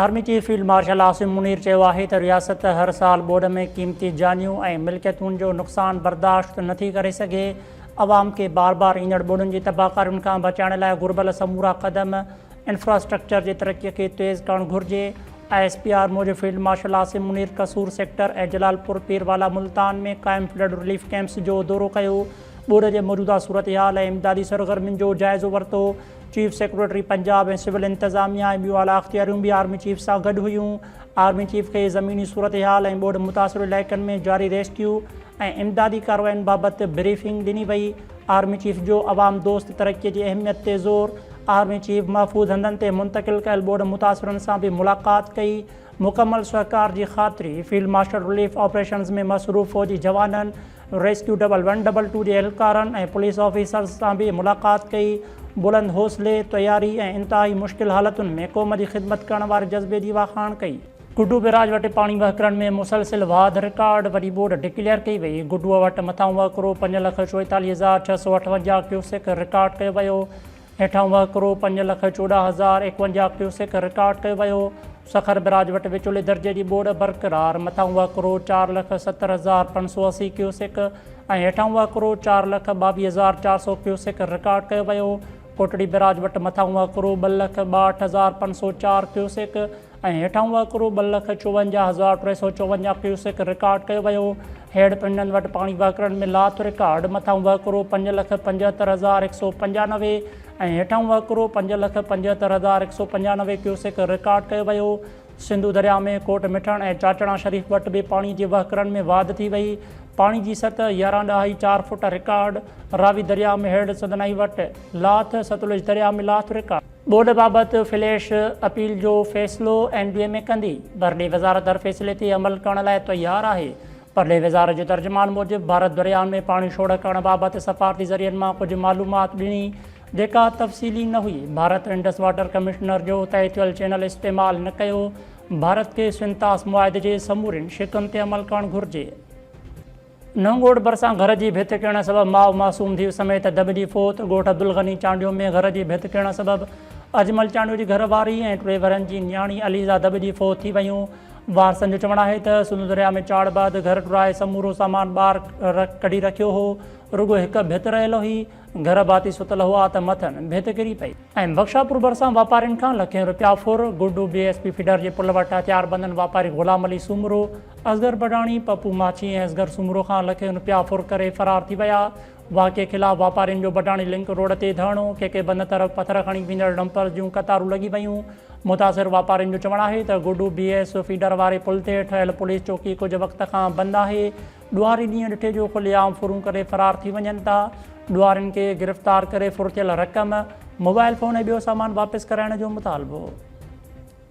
Army chief field marshal Asim Munir چيو آهي ته رياست هر سال ٻوڏ ۾ قيمتي جانيون ۽ ملڪيتون جو نقصان برداشت نٿي ڪري سگهي، عوام کي بار بار ايندڙ ٻوڏن جي تباهڪارين کان بچائڻ لاء گهربل سمورا قدم انفراسٽرڪچر جي ترقي کي تيز ڪرڻ گهرجي، آء ايس پي آر موجب field marshal Asim Munir Kasur sector ۽ Jalalpur پير والا ملتان ۾ قائم فلڊ رليف ڪيمپس جو دورو ڪيو، ٻوڏ جي موجوده صورتحال ۽ امدادي سرگرمين جو جائزو ورتو. چيف سيڪريٽري پنجاب ۽ سول انتظاميا ۽ ٻيون اعليٰ اختياريون به آرمي چيف سان گڏ هيون آرمي چيف کي زميني صورتحال ۽ ٻوڏ متاثر علائقن ۾ جاري ريسڪيو ۽ امدادي ڪارواين بابت بريفنگ ڏني وئي آرمي چيف جو عوام دوست ترقي جي اهميت تي زور آرمي چيف محفوظ هنڌن تي منتقل ڪيل ٻوڏ متاثرن سان به ملاقات ڪئي مڪمل سهڪار جي خاطري فيلڊ مارشل رليف آپريشنز ۾ مصروف فوجي جوانن rescue double one double two جي اهلڪارن ۽ پوليس آفيسرز سان به ملاقات ڪئي، بلند حوصلي، تياري ۽ انتهائي مشڪل حالتن ۾ قوم جي خدمت ڪرڻ واري جذبي جي واکاڻ ڪئي. گڊو بيراج وٽ پاڻي وهڪرن ۾ مسلسل واڌ رڪارڊ وڏي ٻوڏ ڊڪليئر ڪئي وئي، گڊو وٽ مٿانهون وهڪرو پنج لک چوئيتاليهه هزار ڇهه سؤ اٺونجاهه ڪيوسڪ رڪارڊ ڪيو ويو، هيٺان وهڪرو پنج لک چوڏهن هزار ايڪونجاهه ڪيوسڪ رڪارڊ ڪيو ويو، سکر بئراج وٽ وچولي درجي جي ٻوڏ برقرار، مٿان وهڪرو چار لک ستر هزار پنج سؤ اسي ڪيوسڪ ۽ هيٺان وهڪرو چار لک ٻاويهه هزار چار سؤ ڪيوسڪ رڪارڊ ڪيو ويو، ڪوٽڙي بئراج وٽ مٿان وهڪرو ٻه لک ٻاهٺ هزار پنج سؤ چار ڪيوسڪ ۽ هيٺاهون وهڪرو ٻه لک چوونجاهه هزار ٽي سؤ چوونجاهه ڪيوسڪ رڪارڊ ڪيو ويو. هيڊ پنڊن وٽ پاڻي وهڪرن ۾ لاٿ رڪارڊ مٿاهون وهڪرو پنج لک پنجهتر هزار هڪ سؤ پنجانوي ۽ هيٺاهون وهڪرو پنج لک پنجهتر هزار هڪ سؤ پنجانوي ڪيوسڪ رڪارڊ ڪيو ويو. سنڌو درياء ۾ ڪوٽ مٺڻ ۽ چاچڻا شريف وٽ به پاڻي جي وهڪرن ۾ واڌ ٿي وئي. پاڻي جي سطح يارهن ڏهائي چار فوٽ رڪارڊ. راوي درياء ۾ هيڊ سندنائي وٽ لاٿ. ستلج درياء ۾ لاٿ رڪارڊ. ٻوڏ بابت فليش اپيل جو فيصلو اين بي ايم اي ڪندي، پرڏيهه وزارت هر فيصلي تي عمل ڪرڻ لاء تيار آهي. پرڏيهه وزارت جو ترجمان موجب ڀارت درياهن ۾ پاڻي ڇوڙ ڪرڻ بابت سفارتي ذريعن مان ڪجهه معلومات ڏني جيڪا تفصيلي نه هئي، ڀارت انڊس واٽر ڪمشنر جو طئي ٿيل چينل استعمال نه ڪيو، ڀارت کي سنتاس معاهدي جي سمورين شقن تي عمل ڪرڻ گهرجي. نئونگوٺ ڀرسان گهر جي ڀت ٽڙڻ سبب ماء معصوم ڌيء سميت دٻجي فوت، ڳوٺ عبدالغني چانڊيو ۾ گهر جي ڀت ٽڙڻ سبب اجمل چانڊيو جي گهر واري ۽ ٽي ورهين جي نياڻي عليزا دٻجي فوت ٿي ويون، وارثن جو چوڻ آهي ته سنڌو درياء ۾ چاڙهه بعد گهر ٽرائي سمورو سامان ٻاهر ڪڍي رکيو هو، رڳو هڪ ڀت رهيل هئي، گهر ڀاتي ستل هئا ته مٿن ڀت ڪري پئي. ايم بخشا پور ڀرسان واپارين کان لکين رپيا ڦر، Guddu B S P feeder جي پل وٽ هٿياربندن واپاري غلام علي سومرو، اصغر بڊاڻي، پپو ماڇي ۽ اصغر سومرو کان لکين رپيا ڦر ڪري فرار ٿي ويا، واقعي خلاف واپارين جو بڊاڻي لنڪ روڊ تي ڌرڻو، ڪي ڪي بند طرف پٿر کڻي ويندڙ ڊمپرز جون قطارون لڳي ويون، متاثر واپارين جو چوڻ آهي ته گڊو بي ايس فيڊر واري پل تي ٺهيل پوليس چوڪي ڪجهه وقت کان بند آهي، ڏوهاري ڏينهن ڏٺي جو کلي عام ڦرون ڪري فرار ٿي وڃن ٿا، ڏوهارين کي گرفتار ڪري ڦر ٿيل رقم، موبائل فون ۽ ٻيو سامان واپس ڪرائڻ جو مطالبو.